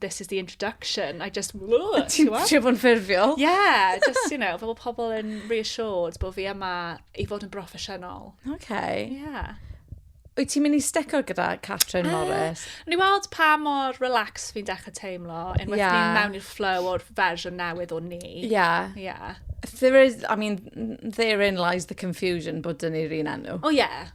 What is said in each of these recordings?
this is the introduction, I just... Ti'n trio bod yn ffurfiol? Yeah, just, you know, fel pobl yn reassured bod fi yma i fod yn broffesiynol. Okay. Yeah. Wyt ti'n mynd i stico gyda Catrin uh, Morris? Ni weld pa mor relax fi'n dechrau teimlo, yn yeah. ni'n mewn i'r flow o'r fersiwn newydd o ni. Yeah. Yeah. There is, I mean, therein lies the confusion bod dyn ni'r un enw. Oh yeah.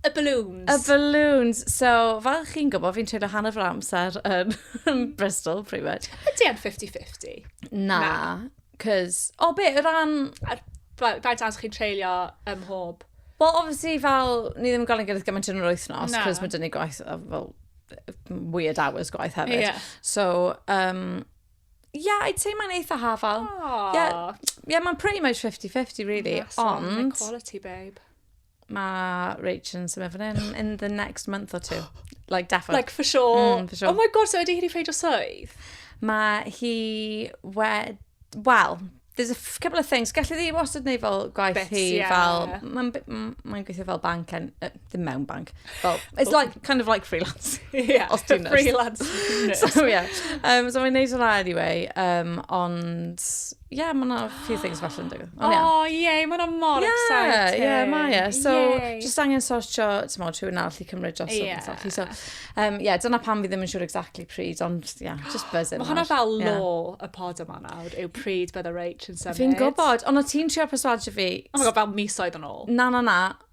Y balloons. Y balloons. So, fel chi'n gwybod, fi'n treulio hanner fy amser yn mm. Bristol, pretty much. Ydy e'n 50-50? Na. Cos, o be, o ran... Faint amser chi'n treulio ym mhob? Wel, obviously, fel, ni ddim yn gael ei gilydd gymaint yn yr wythnos, cos mae dyn ni gwaith, fel, weird hours gwaith hefyd. Yeah. So, um, yeah, I'd say mae'n eitha hafal. Aww. Yeah, yeah mae'n pretty much 50-50, really. Awesome. Ond... Quality, babe. Mae Rachel yn symud fan hyn in the next month or two. Like, definitely. Like, for sure. Mm, for sure. Oh my god, so ydy hi wedi ffeid o swydd? Mae hi wed... Wel, there's a couple of things. Gallu ddi wastad neu fel gwaith Bits, hi yeah. fel... Mae'n ma gweithio fel bank, en, uh, ddim mewn bank. Fel, it's like, kind of like freelance. yeah, os ti'n freelance. so, yeah. Um, so mae'n neud o la anyway, um, ond yeah, mae yna few things falle yn digwydd. O, oh, ie, yeah, mae yna mor yeah, exciting. Ie, yeah, mae e. So, Yay. just angen sortio, ti'n modd, rhywun arall i cymryd dros yeah. o beth So, um, yeah, dyna pam fi ddim yn siŵr exactly pryd, ond, yeah, just buzzing. Mae hwnna fel yeah. law y pod yma nawr, yw pryd bydd y reit yn symud. Fi'n gwybod, ond o ti'n trio perswadio fi... Oh my god, fel misoedd yn ôl. Na, na, na.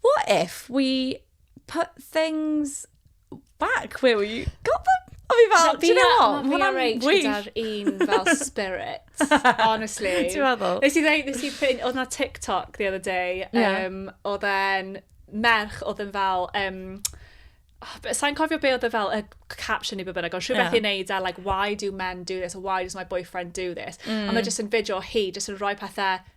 What if we put things back where we got them? O fi fel, do you know what? Mae hwnna'n reit gyda'r un fel spirit, honestly. Ti'n meddwl? Nes i ddeud, nes i ffyn, oedd na TikTok the other day, yeah. um, oedd e'n merch oedd yn fel, um, oh, sa'n cofio be oedd e fel, y caption i be bynnag, ond rhywbeth yeah. i'n neud a, like, why do men do this, or why does my boyfriend do this? Mm. A mae jyst yn fideo hi, jyst yn rhoi pethau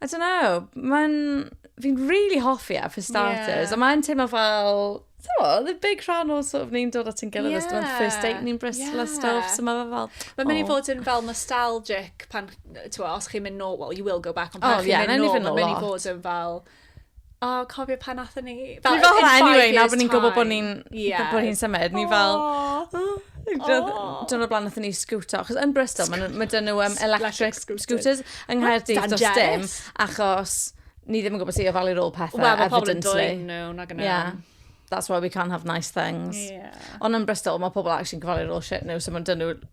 I don't know, mae'n... Fi'n really hoffi e, for starters. Yeah. A mae'n teimlo fel... So, the big rhan o sort of ni'n dod at yn gilydd yeah. ysdyn first date ni'n Bristol yeah. a stuff, so mae fe fel... Mae'n mynd i fod yn fel nostalgic pan, ti'n os chi'n mynd nôl, well, you will go back, ond pan oh, chi'n yeah, mynd nôl, mae'n mynd i fod yn fel... O, cofio pan nathon ni... Fel, fel hwnna, anyway, na bod ni'n gwybod bod ni'n yeah. bod hi'n symud. Ni fel... Dwi'n blaen nathon ni sgwto, achos yn Bristol, mae ma dyn nhw um, electric scooters yng Nghaerdydd dros dim, achos ni ddim yn gwybod sut i ofalu rôl pethau, well, evidently. Wel, mae pobl yn dweud nhw, na gynnau. Yeah. That's why we can't have nice things. Yeah. Ond yn Bristol, mae pobl actually yn gyfalu rôl shit nhw, so mae'n dyn nhw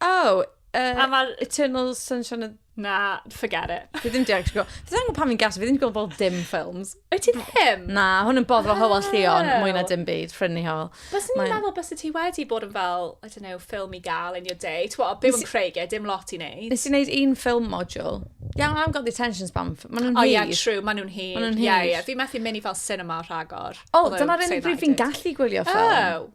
Oh, uh, a mae'r... Eternal Sunshine of... Na, forget it. Fi ddim diolch gwybod. Fi ddim pan fi'n gas, fi ddim gwybod bod dim ffilms. Wyt ti ddim? Na, hwn yn boddro oh. Hywel Llion, mwy na dim byd, ffrinni Hywel. Bys ni'n Mae'n... meddwl bys ti wedi bod yn fel, I don't know, ffilm i gael in your day. Twa, byw yn Craig, e, dim lot i wneud. Nes i wneud un ffilm module. Iawn, yeah, I've got the attention span. Mae nhw'n hir. Oh, yeah, true, mae nhw'n hir. Mae nhw'n hir. Yeah, yeah. Fi methu mynd i fel cinema rhagor. Oh, dyna'r un fi'n gallu gwylio ffilm. Oh.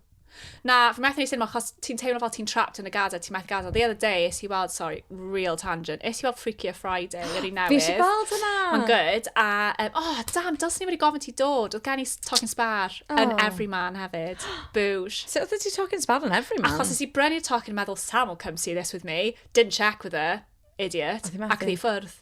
Na, fi methu neud cinema achos ti'n teimlo fel ti'n trapped yn y gada, ti'n methu gada. The other day, is i weld, sorry, real tangent, is i weld Freaky a Friday, yr un newydd. Fi eisiau gweld hwnna. Mae'n good, a, um, oh, damn, dyl sy'n ni wedi gofyn ti dod, oedd gen i Talking Spar oh. yn Everyman hefyd. Boosh. So, oedd ti Talking Spar yn Everyman? Achos is i brynu Talking meddwl, Sam will come see this with me, didn't check with her, idiot, ac i ffwrdd.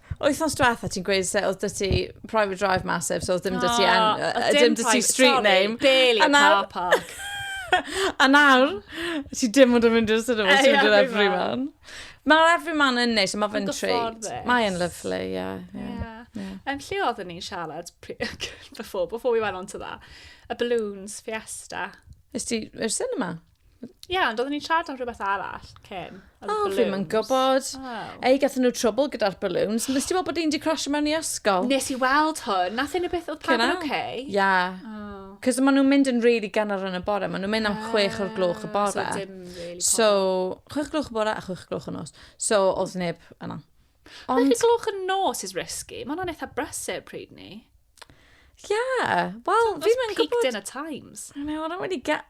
Wythnos diwetha ti'n gweud se oedd dyty private drive massive, so oedd dim dyty, oh, en, uh, dim dyty street sorry, name. Barely a car park. a nawr, ti dim ond yn mynd i'r cinema, ti'n mynd i'r everyman. Mae'r everyman yn neis, mae fe'n treat. Mae'n lyflu, ie. Yn lle oedd ni'n siarad before, before we went on to that, y balloons, fiesta. Ys ti i'r cinema? Ie, ond oedden ni'n siarad am rhywbeth arall cyn. O, oh, fi'n yn gwybod. Oh. Ei, gathen nhw trwbl gyda'r balloons. Nes ti weld bod un di crasio mewn i ysgol? Nes i weld hwn. Nath un o beth oedd pawb yn oce? Ia. Oh. Cos maen nhw'n mynd yn rili really ganol yn y bore. Maen nhw'n mynd am ah, chwech o'r gloch y bore. So, dim really so chwech gloch y bore a chwech gloch y nos. So, oedd neb yna. Ond... Chwech gloch y nos is risky. Maen nhw'n eitha brysur pryd ni. Yeah, wel, fi'n mynd gwybod... Peaked in a times. I know, I don't really get...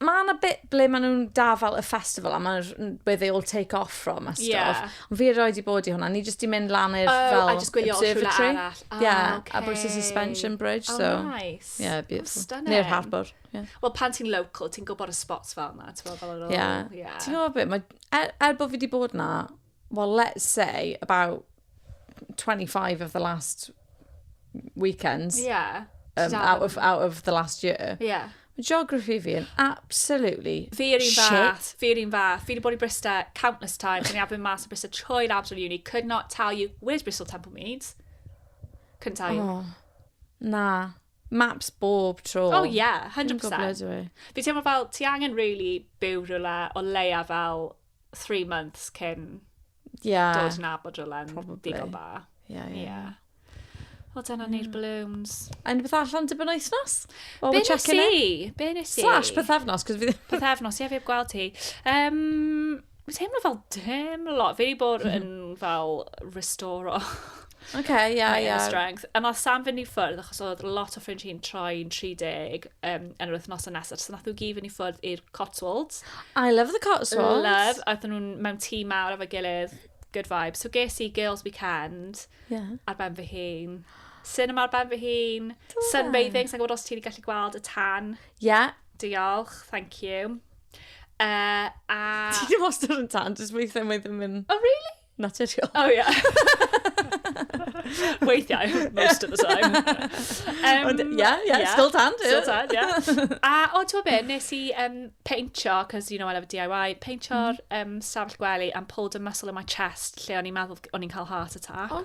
mae yna bit ble maen nhw'n da fel y festival, a mae where they all take off from a stuff. Yeah. Ond fi erioed i bod i hwnna, ni jyst i mynd lan i'r oh, fel observatory. Oh, yeah, okay. a Bristol Suspension Bridge. Oh, so, nice. Yeah, beautiful. Oh, Neu'r harbour. Yeah. Wel, pan ti'n local, ti'n gwybod y spots fel yna. Ti'n gwybod fel yr ôl. Yeah. yeah. Ti'n gwybod beth, mae, er, er bod fi wedi bod na, well, let's say about 25 of the last weekends. Yeah. Um, out, of, out of the last year. Yeah. Mae geography fi yn absolutely Fi yr un fath, fi yr un fath. Fi wedi bod i Brista countless times, and I've been mas o Brista trwy labs of uni. Could not tell you where's Bristol Temple Meads. Couldn't tell you. Oh, na. Maps bob tro. Oh yeah, 100%. Fi teimlo fel, ti angen really byw rhywle o leia fel three months cyn yeah. dod yn abod rhywle'n digon da. Ie, yeah, ie. Yeah. O, dyna mm. ni'r balloons. A unrhyw beth allan dibyn oesnos? Well, be nes i? Be nes i? Slash pethefnos, cos fi... Pethefnos, ie, fi heb gweld ti. Um, Mae'n teimlo fel dim lot. Fi wedi bod yn fel restore o. OK, yeah, yeah. Mae yn strength. A nath Sam fynd i ffwrdd, achos oedd lot o ffrind hi'n troi'n 30 um, yn yr wythnos yn nesaf. So nath nhw gyd fynd i ffwrdd i'r Cotswolds. I love the Cotswolds. Love. A oedd nhw'n mewn tîm mawr efo'i gilydd. Good vibe. So ges i Girls Weekend yeah. ar ben fy hun. Cinema ar ben fy hun. Sunbathing, sa'n gwybod os ti'n gallu gweld y tan. Yeah. Diolch, thank you. Uh, a... Ti'n wastad yn tan, jyst weithiau mae ddim yn... Oh, really? naturiol. Oh, yeah. Weithiau, most of the time. Um, Ond, yeah, yeah, yeah, still tan, Still tan, yeah. A, o, ti'n be, nes i um, peintio, cos you know I love DIY, peintio'r mm. um, safell gwely and pulled a muscle in my chest lle o'n i'n meddwl o'n i'n cael heart attack. Oh,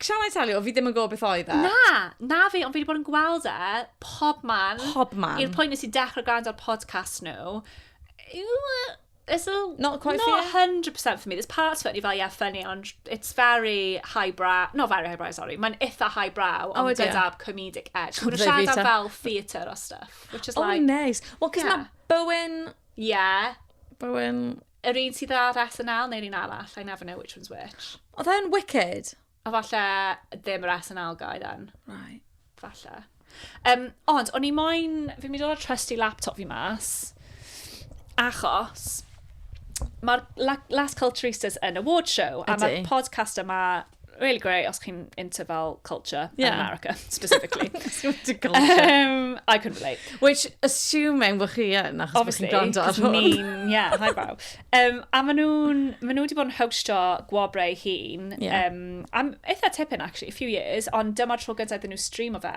Shall I tell you, fi ddim yn gwybod beth oedd e. Na, na fi, ond fi wedi bod yn gweld e pob man. Pob man. I'r pwynt nes i dechrau gwrando ar podcast nhw. It's a, not quite not 100% for me. There's parts of it, ni fel, yeah, funny, ond it's very highbrow. Not very highbrow, sorry. Mae'n eitha highbrow, oh, ond oh, gyda comedic edge. Mae'n siarad am fel theatre o stuff, which is oh, like... Oh, nice. Well, cos yeah. mae Bowen... Yeah. Bowen... Yr un sydd ar SNL neu'r un arall? I never know which one's which. Oedd e yn Wicked? A falle ddim yr SNL guy then. Right. Falle. Um, ond, o'n i moyn... Fi'n mynd i ddod trusty laptop fi mas. Achos... Mae'r Las Culturistas yn award show. Ydy. A mae'r podcast yma really great os chi'n into fel culture yeah. in America, specifically. into culture. Um, I could relate. Which, assuming bod chi yn, achos bod chi'n gwrando ar hwn. Obviously, yeah, hi brow. Um, a maen nhw'n, maen nhw wedi bod yn hostio gwobrau hun, yeah. um, am eitha tipyn, actually, a few years, ond dyma'r tro gyntaf iddyn nhw stream o fe.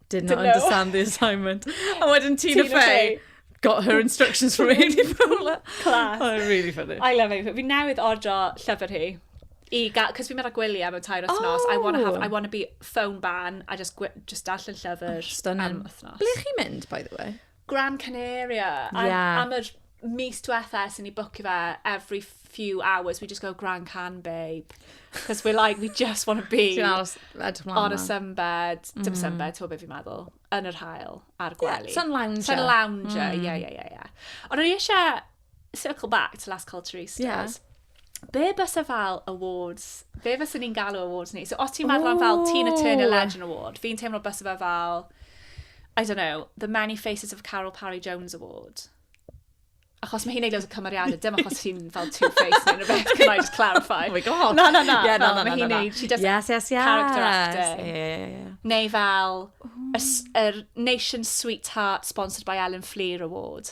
did not understand the assignment. A wedyn Tina, Tina Fey, got her instructions from Amy Poehler. Class. Oh, really funny. I love Amy Poehler. Fi newydd ordro llyfr hi. I ga, cos fi'n mynd â gwyliau mewn tair wythnos. Oh. I want to have, I want to be phone ban. I just, just darllen llyfr oh, am wythnos. Ble chi'n mynd, by the way? Gran Canaria. Ie. Am, am yr mis diwetha ers i ni bwcio fe, every few hours, we just go Gran Can, babe. Because we're like, we just want to be Ti'n aros, edrych mlaen. on a sunbed, mm. dim sunbed, ti'n beth fi'n meddwl, yn yr hael, ar gwely. Yeah, sun lounger. Sun lounger, ie, ie, ie. Ond o'n i eisiau circle back to Last Call to Roosters. Yeah. Be bys e fel awards? Be bys ni'n galw awards ni? So os ti'n meddwl am fel Tina Turner Legend Award, fi'n teimlo bys e fel, I don't know, the Many Faces of Carol Parry Jones Award. Achos mae hi'n neud oes o cymeriadau, dim achos hi'n fel two-faced neu rhywbeth, can I just clarify? Oh my god! Na, na, na, yeah, no, no, no, no, no. she does yes, yes, yes. character acting. Yeah, yeah, yeah. Neu fel, a, a Nation Sweetheart sponsored by Ellen Fleer Award.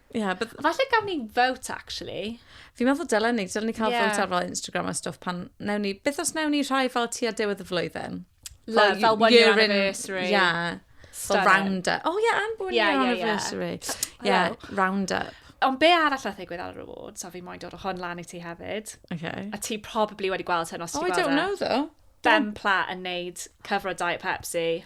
Yeah, but... Falle gawn ni vote, actually. Fi'n meddwl dylen ni, dylen ni cael yeah. vote ar fel Instagram a stwff pan newn ni, beth os newn ni rhai fel ti a diwedd y flwyddyn? Love, fel, one year anniversary. Yeah. Fel round up. Oh yeah, and one yeah, year yeah, anniversary. Yeah, yeah. yeah round up. Ond be arall a ddigwydd ar yr awards, a fi moyn dod o hwn lan i ti hefyd. Okay. A ti probably wedi gweld hyn os oh, ti gweld Oh, I don't e. know though. Ben Platt yn neud cyfro Diet Pepsi.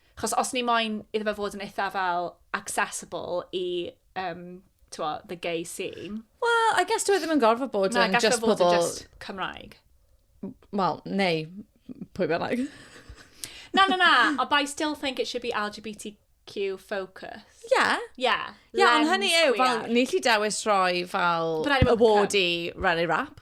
Chos os ni moyn iddo fe fod yn eitha fel accessible i um, twa, the gay scene. Wel, I guess dwi e ddim yn gorfod bod yn just pobl... Na, gallai fod yn just Cymraeg. Wel, neu pwy bynnag. na, na, na, but I still think it should be LGBT LGBTQ focus. Yeah. Yeah. Yeah, ond hynny yw, fel, ni lli dewis roi fel award i Rally Rap.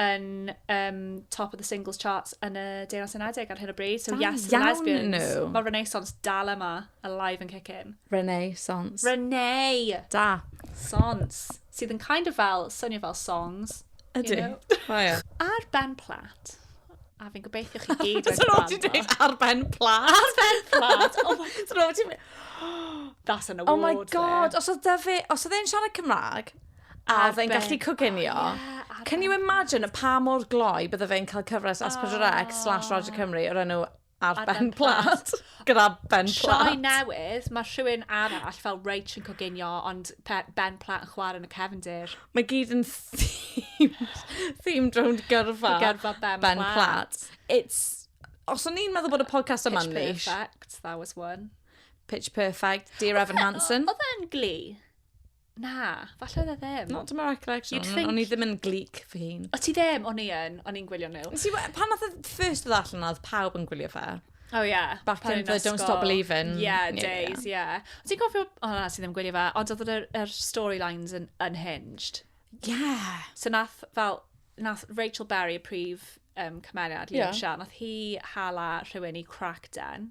yn um, top of the singles charts yn y Deyrnas Unedig ar hyn o bryd. So, yes, the lesbians. Nhw. Mae Renaissance dal yma, alive and kicking. Renaissance. Renee! Da. Sons. Sydd yn kind of fel, swnio fel songs. Ydy. You know? oh, yeah. Ar Ben Platt. A fi'n gobeithio chi gyd wedi gwrando. Ti'n dweud ar Ben Platt? Ar Ben Platt. Oh my god. That's an award. Oh my god. Os oedd Dyfi, os oedd e'n siarad Cymraeg, A oedd e'n gallu coginio. Oh, yeah, Can you imagine pa mor gloi bydde fe'n cael cyfres as Pedro X slash Roger oh. Cymru o'r enw ar, ar ben plat. Gyda ben plat. Sioe newydd, mae rhywun arall fel Rach yn coginio, ond ben plat yn chwarae yn y cefndir. Mae gyd yn themed, themed rownd gyrfa. Gyrfa ben, ben plat. plat. It's... Os o'n i'n meddwl bod y podcast yma'n nish. Pitch Perfect, that was one. Pitch Perfect, Dear Evan Hansen. Oedd e'n gli? Na, falle oedd e ddim. Not to my recollection. You'd think... O'n i ddim yn gleek fy hun. O ti ddim? O'n i yn. O'n i'n gwylio nhw. Nes i we- pan nath y first ddod allan oedd pawb yn gwylio fe. Oh yeah. Back Pan in o'n the i'n Don't ysgol. Stop Believin'. Yeah, Ie, ie, days, yeah. O ti'n cofio... O na, ti ddim yn gwylio fe. Ond oedd yr, yr storylines yn unhinged. Yeah. So nath fel, nath Rachel Berry, y prif um, cymeriad, Leo Ie. Shell, nath hi hala rhywun i crack den.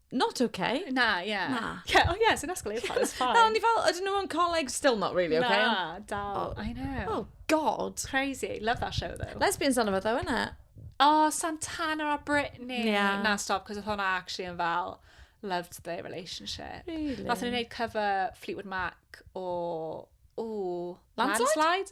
not okay. Na, ie. Yeah. Na. Yeah, oh yeah, sy'n asgol eithaf, it's fine. Na, ond i fel, ydyn nhw yn coleg, still not really okay. Na, dal, oh. I know. Oh, God. Crazy, love that show though. Lesbians on efo ddo, yna. Oh, Santana a Britney. Yeah. Na, stop, cos oedd hwnna actually yn fel loved their relationship. Really? Nath nhw'n gwneud cover Fleetwood Mac o... Ooh, Landslide? Landslide?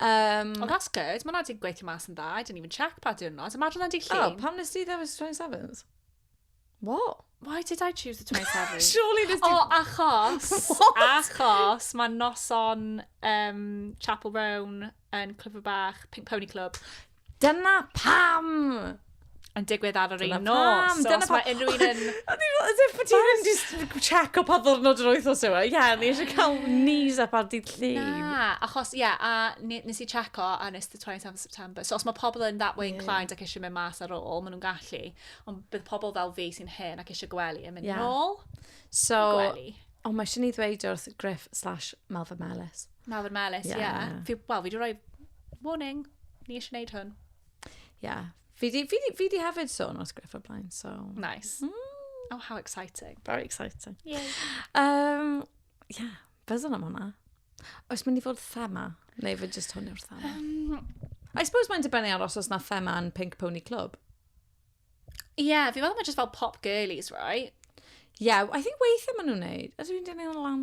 Um, oh, that's good. Mae'n wedi gweithio mas yn dda. I didn't even check pa diwrnod. Imagine o'n di llun. Oh, pam nes ti ddewis 27th? What? Why did I choose the 27th? Surely this did... Oh, achos, achos, mae noson um, Chapel Roan yn Clyfr Bach, Pink Pony Club, Dyna pam! Yn digwydd ar yr un nos. Dyna pam! Mae unrhyw un yn... O'n i'n meddwl, ydych bod ti'n just check o pa ddwrnod yr wythnos yw e? Ie, o'n i eisiau cael knees up ar dydd llun. Na, achos, ie, a nes i check o, a nes the 27th of September. So, os mae pobl yn that way inclined ac eisiau mynd mas ar ôl, maen nhw'n gallu. Ond bydd pobl fel fi sy'n hen ac eisiau gwely yn mynd yn ôl. So, gwely. Ond mae eisiau ni ddweud wrth Griff slash Malfa Melys. Mawr melys, ie. Yeah. Yeah. Fi, wel, fi wedi rhoi warning, ni eisiau gwneud hwn. Ie. Fi di, fi di, fi di hefyd sôn wrth Griff o blaen, so... Nice. Mm. Oh, how exciting. Very exciting. Ie. Um, yeah, byddwn am hwnna. Oes mynd i fod thema? Neu fe just hwn yw'r thema? Um, I suppose mae'n dibynnu ar os oes na thema yn Pink Pony Club. yeah, fi meddwl mae just fel pop girlies, right? Yeah, I think weithiau maen nhw'n neud. Ydw i'n dynnu hwnna lan?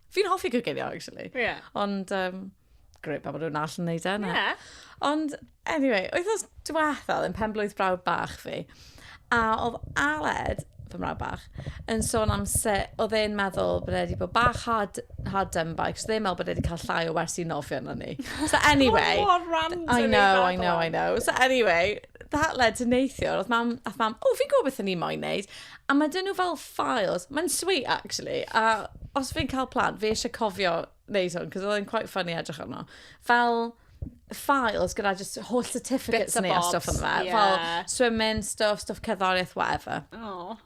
Fi'n hoffi gogeiddio, actually. Ie. Yeah. Ond, um, greu pa bod nhw'n all yn neud e. Ie. Yeah. Ond, anyway, wythnos diwethaf yn pen blwydd brawd bach fi, a oedd Aled, fy mrawd bach, yn sôn am se, oedd e'n meddwl bod wedi bod bach hard, hard done by, cos oedd e'n meddwl bod wedi cael llai o wersi nofio na ni. So anyway... Mae'n mor random i meddwl. I know, I know, I know. So anyway, that led to neithiwr, oedd mam, oedd mam, o, fi'n gwybod beth o'n i'n moyn neud. A mae dyn nhw fel files, mae'n sweet actually, a os fi'n cael plan, fi eisiau cofio neud hwn, cos oedd e'n quite funny edrych arno. Fel files gyda just holl certificates ni a stuff yn fe. Yeah. Fel swimming, stuff, stuff cerddoriaeth, whatever. Oh.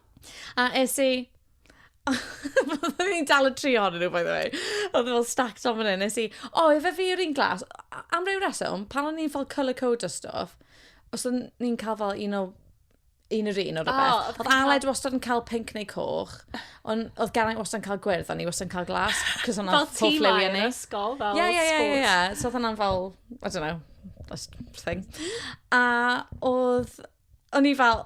A es i, Oedden ni'n dal y tri ohonyn nhw, by the way. Oedd fel stacked on fan hyn. Nes i, o, efe fi yw'r un glas. Am ryw reswm, pan o'n i'n fel colour code o stuff, os o'n ni'n cael fel un o un yr un o rhywbeth. oedd Aled wastad yn cael pink neu coch, ond oedd Geraint wastad yn cael gwyrdd, ond ni wastad yn cael glas, cos hwnna fel ti lai yn ysgol, fel yeah, yeah, yeah, yeah. So oedd hwnna'n fel, I don't know, that's thing. A oedd, o'n i fel,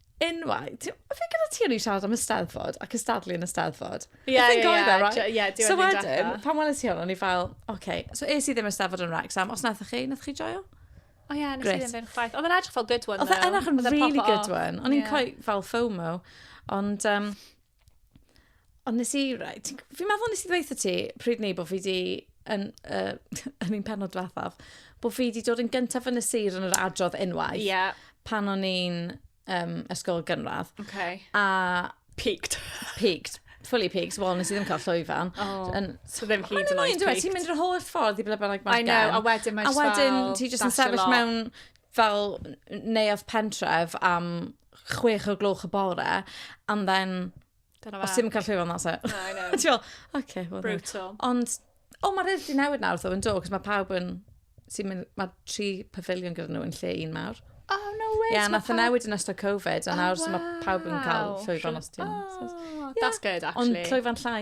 unwaith, ti'n gwybod, fi gyda ti o'n i'n siarad am ysteddfod a cystadlu yn ysteddfod. Ie, ie, ie. Ie, diwedd So wedyn, pan welais ti hwn, o'n i fel, oce, okay. so es i ddim ysteddfod yn Wrexham, os naethoch chi, naethoch chi joio? O ie, nes i ddim fynd chwaith. Oedd yn edrych fel good one, though. Oedd yn edrych yn really good one. O'n i'n yeah. coet fel FOMO. Ond, um, Ond nes i, right, fi'n meddwl nes i ddweud ti pryd ni bod fi di yn, uh, yn un penod diwethaf, bod fi di dod yn gyntaf yn y sir yn yr adrodd enwau. Ie. Yeah. Pan o'n i'n um, ysgol gynradd. Okay. A... Peaked. Peaked. Fully peaked. Wel, nes i ddim cael llwyfan. Oh, yn... so ddim hyd yn oed peaked. Ti'n mynd yr holl ffordd i ble bynnag mae'n gen. I know, a wedyn mae'n A wedyn ti jyst yn sefyll mewn fel neuadd pentref am chwech o gloch y bore, and then... Dyna fe. Os ti'n cael llwyfan, that's it. I know. Ti'n fel, okay, well, Brutal. Ond, o, oh, mae'r di newid nawr, though, yn do, cos mae pawb yn... Sy'n mynd, mae tri pavilion gyda nhw yn lle un mawr. Oh, no way. Ie, yeah, nath y newid yn ystod Covid, a oh, nawr oh, wow. mae pawb yn cael llwyfan os ti'n... Oh, yeah. that's good, actually. Ond llwyfan llai.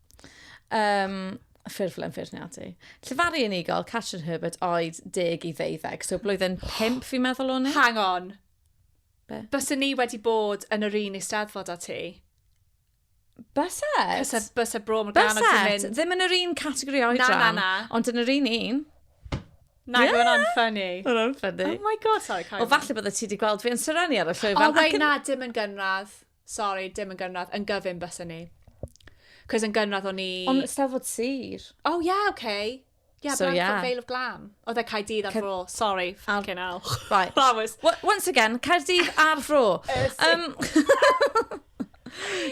Um, ffurflen ffurniadu. Llefaru unigol, Catrin Herbert, oed deg i ddeuddeg. So blwyddyn pimp fi'n meddwl o'n i. Hang on. Be? Bysa ni wedi bod yn yr un eisteddfod a ti. Byset. Bysa, bysa bro mor ganog ti'n mynd. Byset. Ddim yn yr un categori oedran. Na, na, na. Ond yn yr un un. Na, yeah. hwnna'n ffynnu. Hwnna'n ffynnu. Oh my god, sorry, Karen. O, falle bod ti wedi gweld fi yn Sereni ar y llwyfan. O, oh, wei, na, dim yn gynradd. Sori, dim yn gynradd, yn gyfun bysen ni. Cos yn gynradd o'n i... Ond Eisteddfod Sir. Oh yeah, okay. Yeah, so, Blanford yeah. Vale of Glam. Oedd e Caerdydd ar fro, sorry, fucking hell. Right. That was... Once again, Caerdydd ar fro. um,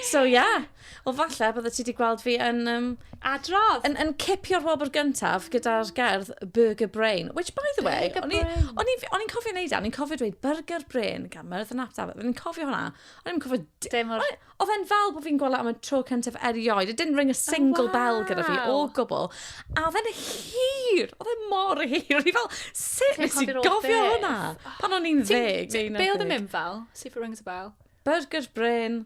so yeah. Wel falle bydde ti wedi gweld fi yn... Um, Adrodd! Yn, yn cipio'r wobr gyntaf gyda'r gerdd Burger Brain, which by the way, o'n i'n cofio wneud e, o'n i'n cofio dweud Burger Brain gan Myrdd yn Aptaf, o'n i'n cofio hwnna, o'n i'n cofio... Dim o'r... Oedd e'n fel bod fi'n gweld e am y tro cyntaf erioed, it didn't ring a oh, single oh, wow. bell gyda fi o gwbl, a oedd e'n hir, oedd e'n mor hir, o'n i fel, sut nes i gofio hwnna? Pan o'n i'n ddeg, neu Be oedd yn mynd fel? See if it rings a bell. Burger Brain,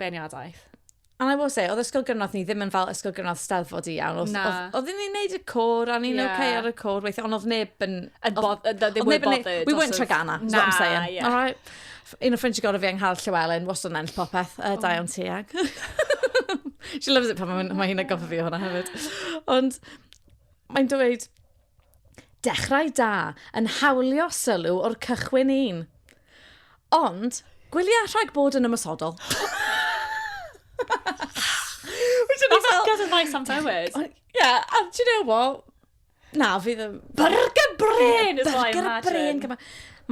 beirniadaeth. And I will say, oedd ysgol gynradd ni ddim yn fel ysgol gynradd steddfod i iawn. Oedd, oedd, oedd ni'n neud y cwr, a ni'n yeah. okay ar y cwr weithio, ond oedd neb yn... Yn bod, ddim yn bothered. We weren't Tragana, is what I'm saying. Yeah. All right. Un o ffrindiau gorau fi yng Ngharl Llywelyn, was o'n enll popeth, uh, oh. Dion Tiag. She loves it pan mae hi'n agofio fi hwnna hefyd. Ond mae'n dweud, Dechrau da, yn hawlio sylw o'r cychwyn un. Ond, gwylia rhag bod yn ymosodol. Which o'n i fel... Oscar yn nice am ddewis. Ond, ie, a do you know what? Na, fi ddim... Byrgyr brên is what I imagine. Byrgyr brên gyma.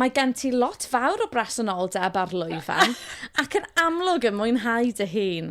Mae gen ti lot fawr o bresenoldeb ar lwyfan, ac yn amlwg yn mwynhau dy hun.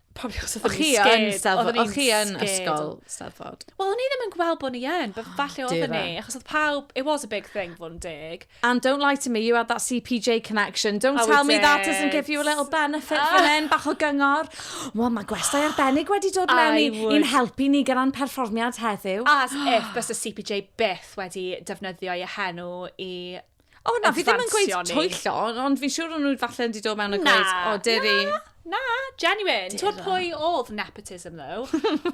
Probably achos oedd chi yn Steddfod. Oedd chi yn ysgol Steddfod. Wel, o'n i ddim yn gweld bod ni yn, but falle oedd ni. Achos oedd pawb, it was a big thing, fod yn deg. And don't lie to me, you had that CPJ connection. Don't oh, tell me did. that doesn't give you a little benefit uh, fan hyn, bach o gyngor. Wel, mae gwestai arbennig wedi dod mewn i, i'n helpu ni gyda'n perfformiad heddiw. As if bys y CPJ byth wedi defnyddio ei henw i O na, fi ddim yn gweud twyllo, ond fi'n siŵr o'n nhw falle wedi dod mewn a gweud, o, dyri... Na, na, genuine. Ti'n pwy oedd nepotism, though?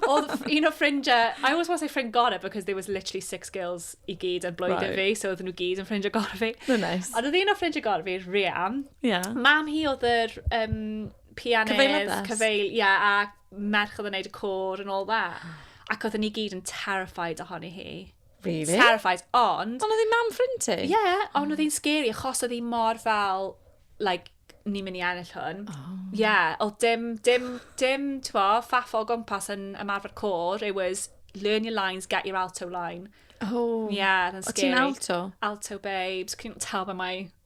oedd un o ffrindiau, I always want to say ffrind gorau, because there was literally six girls i gyd yn blwyddyn right. fi, so oedd nhw gyd yn ffrindiau gorau fi. No, nice. Ond oedd un o ffrindiau gorau fi, Riam. Yeah. Mam hi oedd yr um, pianydd, cyfeil, ia, yeah, a merch oedd yn neud y cwr and all that. Ac oedd ni gyd yn terrified ohoni hi. Really? Terrified, ond... Ond oedd ei mam ffrind ti? Ie, yeah, ond oedd hi'n scary achos oedd hi mor fel, like, ni'n mynd i ennill hwn. Ie, oh. yeah, oedd dim, dim, dim, ti'n fo, ffaffo o gwmpas yn ymarfer cor. It was, learn your lines, get your alto line. Oh. Ie, yeah, oedd yn scary. O ti'n alto? Alto, babes. Cyn taw fe mae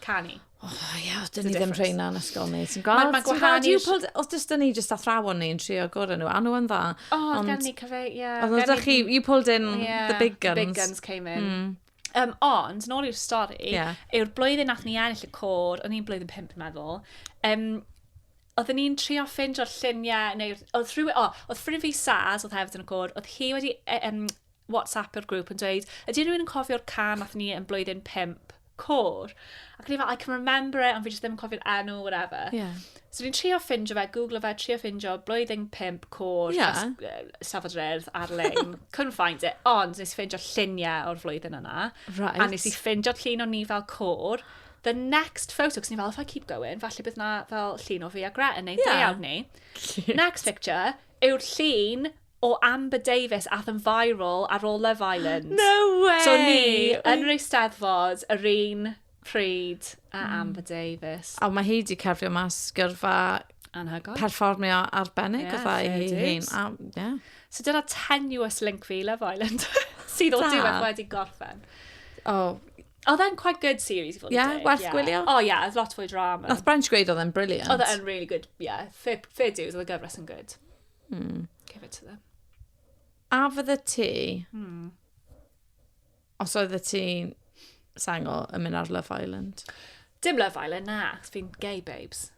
canu. O, oh, ie, yeah, dyn ni ddim rheina yn ysgol ni. Ti'n gweld? Mae ma gwahanu... Os dys dyn ni jyst athrawon ni yn trio gorau nhw, a nhw yn dda. O, oh, ond... gen ni cyfe, ie. Yeah, ond ydych chi, you pulled in yeah, the big guns. The big guns came in. Mm. Um, ond, nôl i'r stori, yeah. yw'r blwyddyn nath ni ennill y cor, o'n i'n blwyddyn pimp, yn meddwl, um, oedden ni'n trio ffindio lluniau, neu oedd rhywun, o, oedd ffrind fi Saz, oedd hefyd yn y gôr, oedd hi wedi um, WhatsApp yr grŵp yn dweud, ydy rhywun yn cofio'r can nath ni yn blwyddyn 5? Cor. Ac ni fel, I can remember it, ond fi jyst ddim yn cofio'r enw, whatever. Yeah. So ni'n trio ffindio fe, googlo fe, trio ffindio, blwyddyn 5, cor, yeah. safod yr erdd ar-lein. Couldn't find it, ond nes i ffindio lluniau o'r flwyddyn yna. Right. A nes i ffindio llun o'n ni fel cor. The next photo, cos ni fel, if I keep going, falle bydd na fel llun o fi a Gret yn neud yeah. deiawd ni. Next picture, yw'r llun o Amber Davies ath yn viral ar ôl Love Island. No way! So ni yn yr Eisteddfod yr un pryd a Amber Davies. A mae hi di cerfio mas gyrfa Anhygoel. perfformio arbennig yeah, gyda hi hun. A, yeah. So dyna tenuous link fi Love Island sydd o diwedd wedi gorffen. Oh, Oedd e'n quite good series i fod yn yeah, deg. Werth yeah. gwylio? O oh, ie, yeah, oedd lot fwy drama. Nath Branch gweud oedd e'n brilliant. Oedd e'n really good, ie. Yeah. Fair, fair dues, oedd y gyfres yn good. Mm. Give it to them. A fydde ti... Mm. Os oedd y ti sengl yn mynd ar Love Island? Dim Love Island, na. Fi'n gay, babes.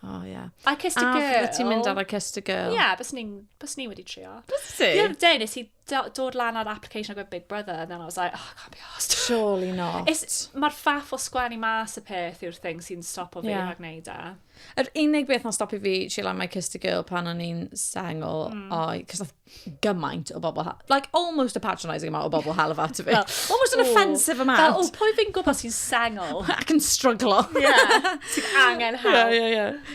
Oh, yeah. I kissed a, a girl. A ti'n mynd ar I kissed a girl. Yeah, bys ni, bys ni wedi trio. Bys ti? Ie, de, nes i dod lan ar application agwedd Big Brother, and then I was like, oh, I can't be asked. Surely not. Mae'r faff o sgwennu mas y peth yw'r thing sy'n stop o fi yeah. rhag neud e. Yr unig beth na'n stop i fi, she like my kissed a girl pan o'n i'n sengl, mm. oi, cos nath gymaint o bobl, like almost a patronising amount o bobl half at fi. almost an offensive amount. Fel, o, pwy fi'n gwybod sy'n sengl? Ac yn struglo. yeah, sy'n angen help. Yeah, yeah, yeah.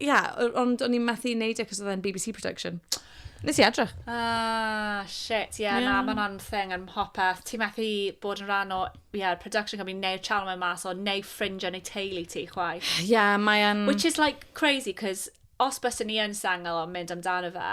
Ia, o- ond o'n i'n methu neud e cos oedd e'n BBC production. Nes i edrych. Ah, shit, ie, na, Ie. mae'n anthing yn mhopeth. Ti'n methu bod yn rhan o, ie, production company neu'r channel mae'n mas o, neu ffrindiau neu teulu ti, chwaith. Ia, mae e'n... Which is like crazy, cos os byswn ni yn sengl o'n mynd amdano fe,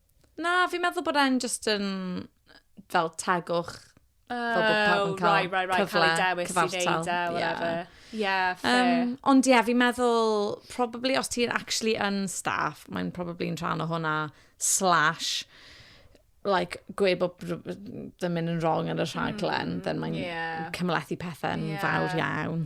Na, fi'n meddwl bod e'n just yn fel tegwch. Oh, fel bod pawb yn cael right, right, right. cyfle, cael ei dewis cyfartal. i wneud e, whatever. Yeah. Yeah, fair. Um, ond ie, yeah, fi'n meddwl, probably os ti'n actually yn staff, mae'n probably yn rhan o hwnna, slash, like, gwe bod ddim yn wrong yn y rhaglen, mm, then mae'n yeah. cymlethu pethau'n yeah. fawr iawn.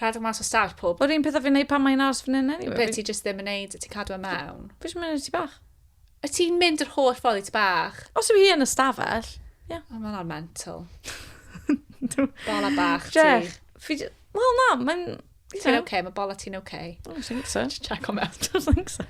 Rhedeg mas o stafell pob. Yr un peth a fi'n neud pan mae'n aros fan hyn anyway. Be ti jyst ddim yn neud, ti cadw e mewn? Fi jyst yn mynd i'r tŷ bach. Y ti'n mynd yr holl ffordd i tŷ bach? Os yw hi yn y stafell, ie. Yeah. O, mae'n ar mental. Bola bach ti. Jech, fi... Wel na, mae'n... Ti'n oce, mae bola ti'n oce. O, ti'n think so. Just check on me after. Don't think so.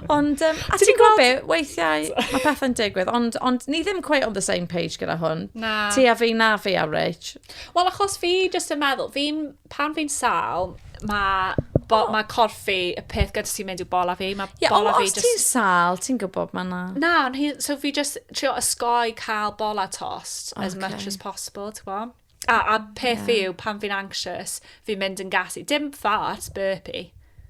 ond, um, a ti'n gwybod be, weithiau mae pethau'n digwydd, ond, ond ni ddim quite on the same page gyda hwn. Na. Ti a fi, na fi a Rich. Wel, achos fi jyst yn meddwl, fi, pan fi'n sal, mae bo, oh. mae corff fi, y peth gyda sy'n mynd i'w bola fi, mae yeah, bola fi just... Ie, ti'n sal, ti'n gwybod mae na. Na, so fi just trio ysgoi cael bola tost okay. as much as possible, ti'n gwybod? A, a peth yeah. fi yw, pan fi'n anxious, fi'n mynd yn gas i. Dim fart, burpy.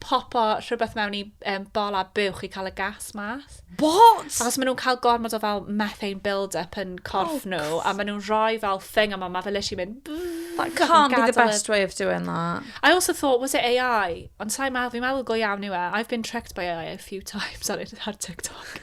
popo rhywbeth mewn i um, bol a buwch i cael y gas mas. What? Achos maen nhw'n cael gormod o fel methane build-up yn corff oh, nhw, a maen nhw'n rhoi fel thing yma, mae fe literally mynd... That can't be the best way of doing that. I also thought, was it AI? Ond sa'i meddwl, fi'n meddwl go iawn yw e. I've been tricked by AI a few times ar, ar TikTok.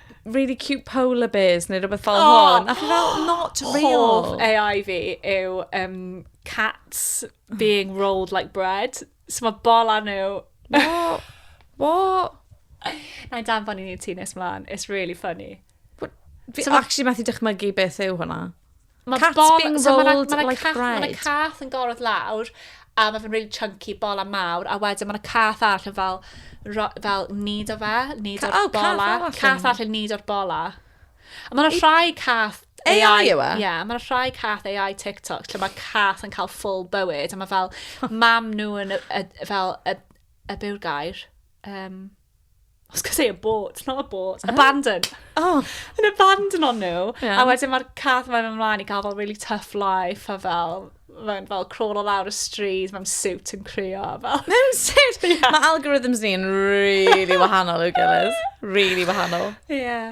really cute polar bears neu rhywbeth fel oh, hwn. A fi fel, not real. Hoff AI fi yw um, cats being rolled like bread. So mae bol anu. What? What? Na i danfon i ni ti nes mlaen. It's really funny. Fi so actually methu dychmygu beth yw hwnna. Mae Cats bol... being so rolled ma na, ma na like cath, bread. Mae yna cath yn gorfod lawr, a mae fe'n really chunky, bol a mawr, a wedyn mae yna cath arall yn fel, ro, fel nid o fe, nid o'r oh, bola. Cath arall yn nid o'r bola. A mae yna rhai cath AI, AI yw e? Ie, yeah, mae'n rhai cath AI TikTok lle mae cath yn cael full bywyd a mae fel mam nhw yn y, y, fel y, y bew'r gair, um, I was going to say abort, not abort, oh. abandon. Oh. Yn abandon on nhw. Yeah. A wedyn mae'r cath mae'n ymlaen i gael fel really tough life a fel mae'n fel crawl o lawr y stryd, mae'n suit yn cryo. Fel. Mae'n suit? yeah. Mae algorithms ni'n really wahanol i'w gilydd. Really wahanol. Ie. Yeah.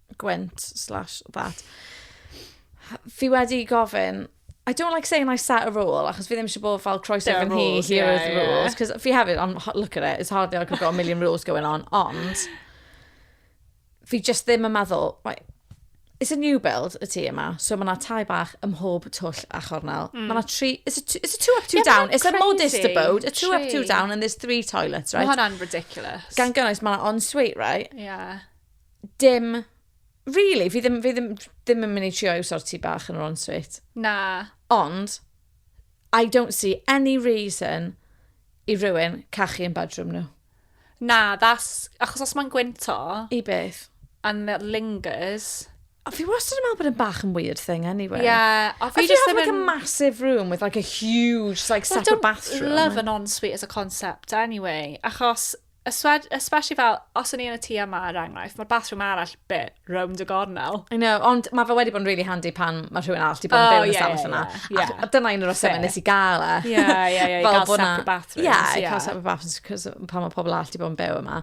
Gwent slash that. Fi wedi gofyn, I don't like saying I set a rule, achos fi ddim eisiau bod fel croeso There are fy nhî, rules, here yeah, are the yeah. rules. Cos fi hefyd, ond ho- look at it, it's hardly like I've got a million rules going on, ond fi just ddim yn meddwl, right, it's a new build y tŷ yma, so mae yna tai bach ym mhob twll a chornel. Mm. Mae yna tri, it's a, two, it's a two up, two Yeah, ma' down, hwnna'n it's a modest crazy. abode, a two up, two Tri. down, and there's three toilets, Mae right? hwnna'n ridiculous. Gan gynnwys, mae yna ensuite, right? Yeah. dim, really, fi ddim, fi ddim, ddim yn mynd i trio i'w sorti bach yn yr ensuite. Na. Ond, I don't see any reason i rywun cachu yn bedroom nhw. Na, that's... Achos os mae'n gwynto... I beth? And it lingers... A fi wastad yn meddwl bod yn bach yn weird thing anyway. Yeah. A fi just ddim yn... Like a massive room with like a huge like well, separate bathroom. I don't love an ensuite as a concept anyway. Achos Espe- especially fel, os o'n i yn y tŷ yma, er enghraifft, mae'r bathroom arall bit rownd y gornel. I know, ond mae fe wedi bod yn really handy pan mae rhywun arall wedi bod yn Oh, byw yn y ie, stafell ie, yna. ie, ie. Ac dyna un o'r resymau Fair. nes i gael e. Ie, ie, ie, i Fel gael bod 'na- separate bathrooms, Ie, i ie. cael separate bathrooms, cos pan mae pobl arall wedi bod yn byw yma.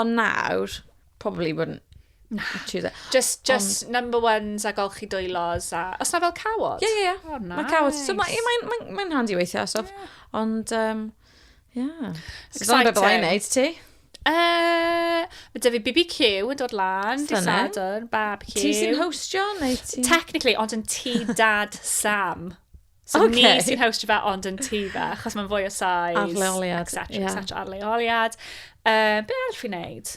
Ond nawr, probably wouldn't choose it. Just, just number ones a golchi dwylos a... Os na fel cawod? Ie, ie, ie. Oh, Mae cawod. So mae nice. mae- mae- mae'n handi weithiau, so. Ond, um, Yeah. So dyna beth byddai'n neud ti? Uh, mae dyfu BBQ yn dod lan, di Sadwrn, barbecue. Ti sy'n hostio neu ti? Technically, ond yn ti dad Sam. So okay. ni sy'n hostio fe ond yn ti fe, achos mae'n fwy o size. Arleoliad. Etc, yeah. etc, arleoliad. Uh, be arall fi'n neud?